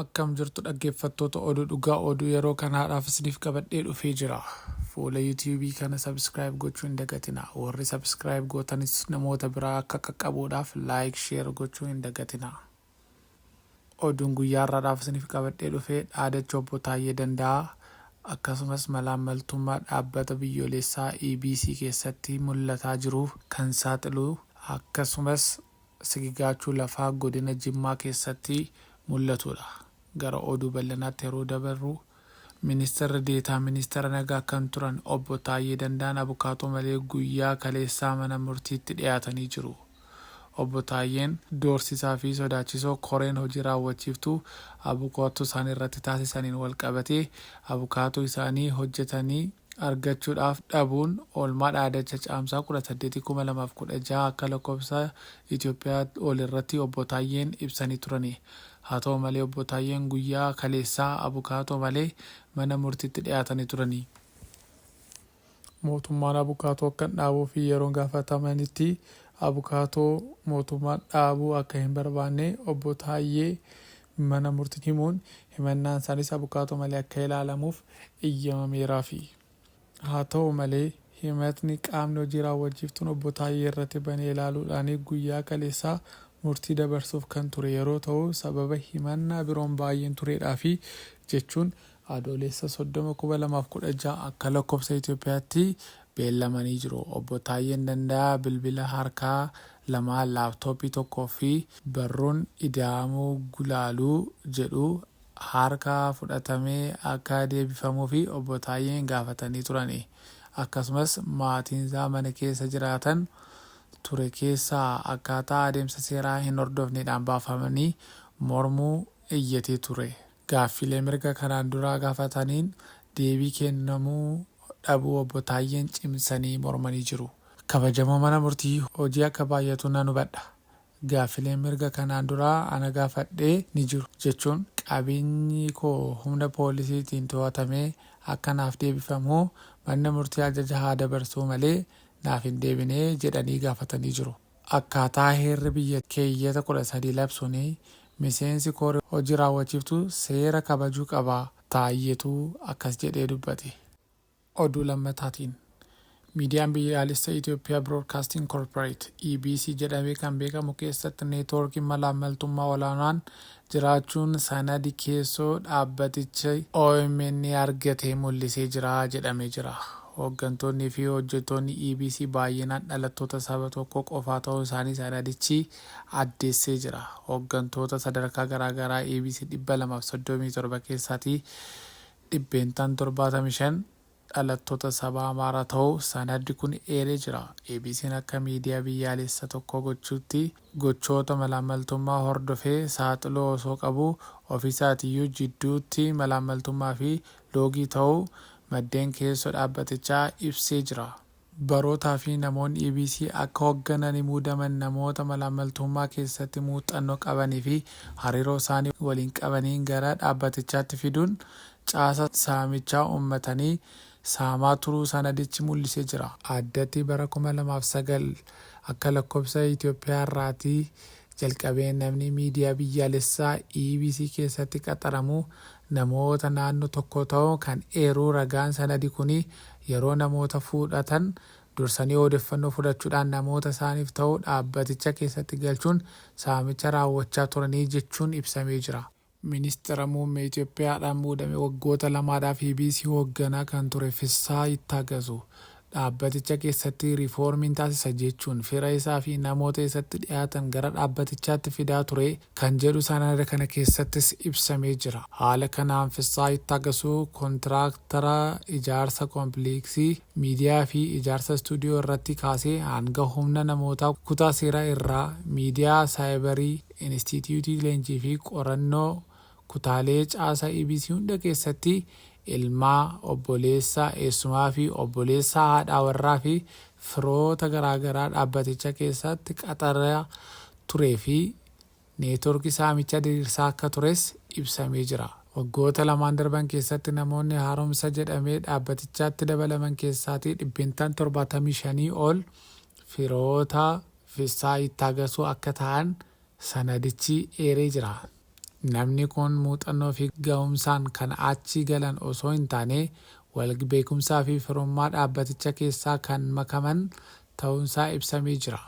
Akkam jirtu dhaggeeffattoota oduu dhugaa oduu yeroo kan haadhaaf isiniif qabadhee dhufee jira. Fuula yuutiyuubii kana sabiskiraayib gochuu hin dagatina. Warri sabiskiraayib gootanis namoota biraa akka qaqqabuudhaaf laayik sheer gochuu hin dagatina. Oduun guyyaa har'aadhaaf isiniif qabadhee dhufee dhaadacha obbo Taayyee Danda'aa akkasumas malaammaltummaa dhaabbata biyyoolessaa EBC keessatti mul'ataa jiru kan saaxilu akkasumas sigigaachuu lafaa godina Jimmaa keessatti mul'atudha. Gara oduu bal'inaatti yeroo dabarru, Ministirri Deetaa Ministeera Nagaa kan turan Obbo Taayyee Danda'aan abukaatoo malee guyyaa kaleessaa mana murtiitti dhiyaatanii jiru. Obbo Taayyeen doorsisaa fi sodaachisoo koreen hojii raawwachiiftuu abukaatoo isaanii irratti taasisaniin walqabatee abukaatoo isaanii hojjetanii argachuudhaaf dhabuun oolmaa dhaadacha Caamsaa 18,2016 akka lakkofsa Itoophiyaa ol irratti Obbo Taayyeen ibsanii turani. Haa ta'u malee Obbo Taayyeen guyyaa kaleessaa abukaatoo malee mana murtiitti dhiyaatanii turani. Mootummaan abukaatoo akka dhaabuu fi yeroo gaafatamanitti abukaatoo mootummaan dhaabuu akka hin barbaanne Obbo Taayyee mana murtiitti himuun himannaan isaaniis abukaatoo malee akka ilaalamuuf eyyamameeraafi. Haa ta'u malee himatni qaamni hojii raawwachiiftuun Obbo Taayyee irratti bane ilaaluudhaan guyyaa kaleessaa murtii dabarsuuf kan ture yeroo ta'u sababa himannaa biroon baay'een tureedhaafi jechuun Adooleessa 30/2016 akka lakkofsa Itiyoophiyaatti beellamanii jiru. Obbo Taayyeen Danda'aa bilbila harkaa lama, laaptooppii tokko fi barruun Ida'amuu Gulaaluu jedhu harka fudhatamee akka deebifamuufi Obbo Taayyeen gaafatanii turani. Akkasumas maatiinsaa mana keessa jiraatan ture keessaa akkaataa adeemsa seeraa hin hordofneedhaan baafamanii mormuu iyyatee ture. Gaaffilee mirga kanaan duraa gaafataniin deebii kennamuu dhabuu Obbo Taayyeen cimsanii mormanii jiru. Kabajamoo mana murtii, hojii akka baay'atu nan hubadha. Gaaffileen mirga kanaan duraa ana gaafadhe ni jiru, jechuun qabeenyi koo humna poolisiitiin to'atamee akka naaf deebifamu manni murtii ajaja haa dabarsuu malee naaf hin deebine jedhanii gaafatanii jiru. Akkaataa heerri biyyattii keeyyata 13 labsuun miseensi koree hojii raawwachiiftuu seera kabajuu qaba, Taayyetu akkas jedhee dubbate. Oduu lammataatiin, Miidiyaan Biyyaalessa Itoophiyaa Biroodkaastiing Korporeet, EBC, jedhamee kan beekamu keessatti neetwoorkiin malaammaltummaa olaanaan jiraachuun sanadi keessoo dhaabbatichi omn argate mul'isee jira jedhamee jira. Hooggantoonnii fi hojjettoonni EBC baay'inaan dhalattoota saba tokkoo qofaa ta'uu isaanii sanadichi addeessee jira. Hooggantoota sadarkaa garaa garaa EBC 237 keessaatii dhibbeentaan 75 dhalattoota saba Amaaraa ta'uu sanaddi kun eeree jira. ABCn akka miidiyaa biyyaalessa tokkoo gochuutti gochoota malaammaltummaa hordofee saaxiluu osoo qabuu ofiisaatiyyuu jidduutti malaammaltummaa fi loogii ta'uu maddeen keessoo dhaabbatichaa ibsee jira. Barootaa fi namoonni EBC akka hogganani muudaman namoota malaammaltuummaa keessatti muuxxanno qabani fi hariiroo isaani waliin qabaniin gara dhaabbatichaatti fiduun caasa saamichaa ummatani saamaa turuu sanadichi mul'ise jira. Addatti bara 2009 akka lakkobsa Itoophiyaa irraati jalqabee namni miidiyaa biyyaalessaa EBC keessatti qaxaramu namoota naannoo tokkoo ta'uu kan eeruu ragaan sanadi kuni yeroo namoota fudhatan dursanii oodeffannoo fudhachuudhaan namoota isaaniif ta'u dhaabbaticha keessatti galchuun saamicha raawwachaa turanii jechuun ibsamee jira. Ministira Muummee Itoophiyaadhaan muudame waggoota lamaadhaaf EBC hoogganaa kan ture Fissahaa Yittaagazuu, dhaabbaticha keessatti riifoormiin taasisa jechuun fira isaa fi namoota isatti dhiyaatan gara dhaabbatichaatti fidaa ture kan jedhu sanada kana keessattis ibsamee jira. Haala kanaan Fissahaa Yittaagasuu kontiraaktara ijaarsa kompiliiksii, miidiyaa fi ijaarsa istuudiyoo irratti kaasee hanga humna namootaa kutaa seeraa irraa, miidiyaa saayibarii, Inistiitiyuutii Leenjii fi Qorannoo kutaalee caasaa EBC hunda keessatti ilmaa, obboleessa, eessumaa fi obboleessa haadhaa warraa fi firoota garaa garaa dhaabbaticha keessaatti qaxaraa turee fi neetworkii saamichaa diriirsaa akka tures ibsamee jira. Waggoota lamaan darban keessatti namoonni haaromsa jedhamee dhaabbatichaatti dabalaman keessaatii dhibbentaan 75 ol firoota, Fissaa Yittaagasuu akka ta'an sanadichi eeree jira. Namni kun muuxannoo fi gahumsaan kan achi galan osoo hin taane walgbeekumsaa fi firummaa dhaabbaticha keessaa kan makaman ta'uunsaa ibsamee jira.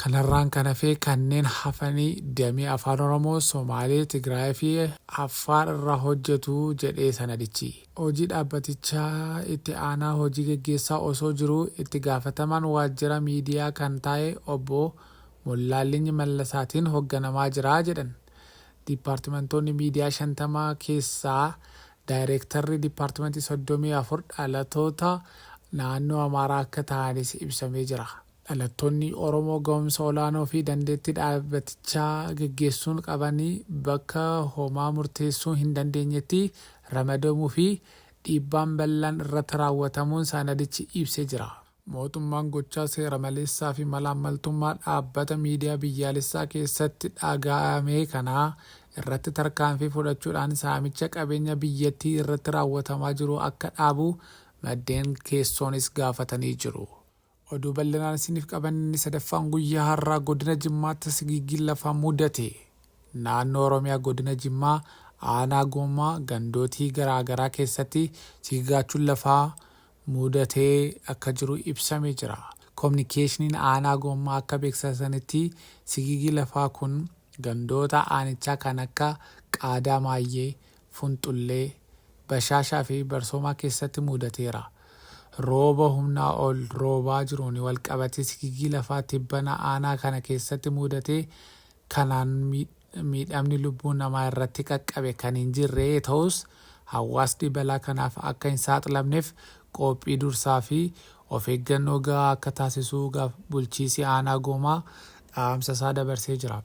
Kanarraan kan hafe kanneen hafanii damee Afaan Oromoo, Somaalee, Tigraayii fi Affaar irra hojjetu jedhe sanadichi. Hojii dhaabbatichaa itti aanaa hojii geggeessaa osoo jiruu itti gaafatamaan waajjira miidiyaa kan taa'e obbo Mollaallinyi Mallasaatiin hogganamaa jira jedhan. Diippaartimantoonni miidiyaa 50 keessaa daayreektarri diippaartimantii 34 dhalatoota naannoo Amaaraa akka tahanis ibsamee jira. Dhalattoonni Oromoo gahumsa olaanoo fi dandeetti dhaabatichaa geggeessuun qaban bakka homaa murteessuu hin dandeenyetti ramadamuu fi dhiibbaan bal'aan irratti raawwatamuun sanadichi ibse jira. Mootummaan gochaa seera maleessaa fi malaammaltummaa dhaabbata miidiyaa biyyaalessaa keessatti dhagaa'ame kana irratti tarkaanfii fudhachuudhaan saamicha qabeenya biyyattii irratti raawwatamaa jiru akka dhaabu maddeen keessoonis gaafatanii jiru. Oduu bal'inaan isiniif qabanne sadaffaan guyyaa har'aa godina Jimmaatti sigiiggiin lafaa mudate. Naannoo Oromiyaa godina Jimmaa aanaa Goomaa gandootii garaa garaa keessatti sigigaachuun lafaa mudatee akka jiru ibsamee jira. Kominikeeshiniin aanaa Goomaa akka beeksasanitti sigiigii lafaa kun gandoota aanichaa kan akka Qaadaa Maayyee, Funxullee, Bashaashaa fi Barsoomaa keessatti muudateera. Rooba humnaa ol roobaa jiruun walqabatee sigigii lafaa tibbana aanaa kana keessatti muudate kanaan miidhamni lubbuu namaa irratti qaqqabe kan hin jirre ta'us hawaasni balaa kanaaf akka hin saaxilamneef qoophii dursaa fi of eeggannoo gahaa akka taasisuu bulchiisi aanaa Goomaa dhaamsa isaa dabarsee jira.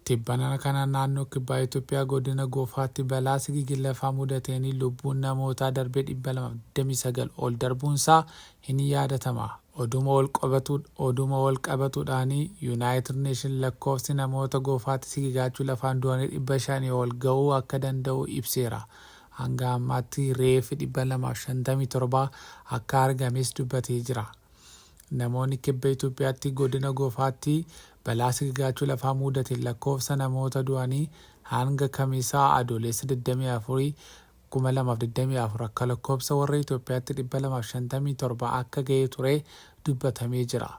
Tibbana kana naannoo kibbaa Itoophiyaa godina Goofaatti balaa sigigii lafaa mudateen lubbuun namootaa darbee 229 ol darbuunsaa hin yaadatama. Oduma Oduma wal qabatuudhaan Yuunaayitid Neeshin lakkoofsi namoota Goofaatti sigigaachuu lafaan du'anii 500 ol ga'uu akka danda'u ibseera. Hanga ammaatti reeffi 257 akka argames dubbatee jira. Namoonni Kibba Itoophiyaatti Godina Gofaatti balaa sigigaachuu lafaa muudateen lakkoofsa namoota du'anii hanga Kamisa Adooleessa 24, 2024 akka lakkoofsa warra Itoophiyaatti 257 akka gahee ture dubbatamee jira.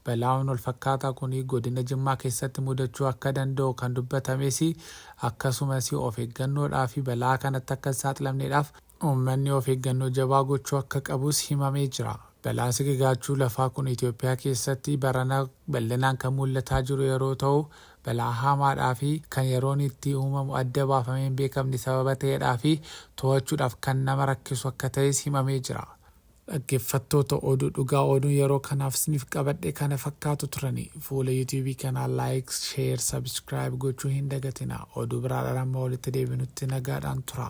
Balaan walfakkaataa kun Godina Jimmaa keessatti mudachuu akka danda'u kan dubbatames akkasumas of eeggannoodhaafi balaa kanatti akka hin saaxilamneedhaaf Uummanni of eeggannoo jabaa gochuu akka qabus himamee jira. Balaan sigigaachuu lafaa kun Itoophiyaa keessatti barana bal'inaan kan mul'ataa jiru yeroo ta'u, balaa haamaadhaa fi kan yeroon itti uumamu adda baafamee hin beekamne sababa ta'eedhaa fi to'achuudhaaf kan nama rakkisu akka ta'es himamee jira. Dhaggeeffattoota Oduu Dhugaa Oduun yeroo kanaaf isiniif qabadhe kana fakkaatu turani. Fuula YouTube kanaa Likes, Share, Subscribe gochuu hin dagatinaa. Oduu biraadhaan amma walitti deebinutti nagaadhaan tura.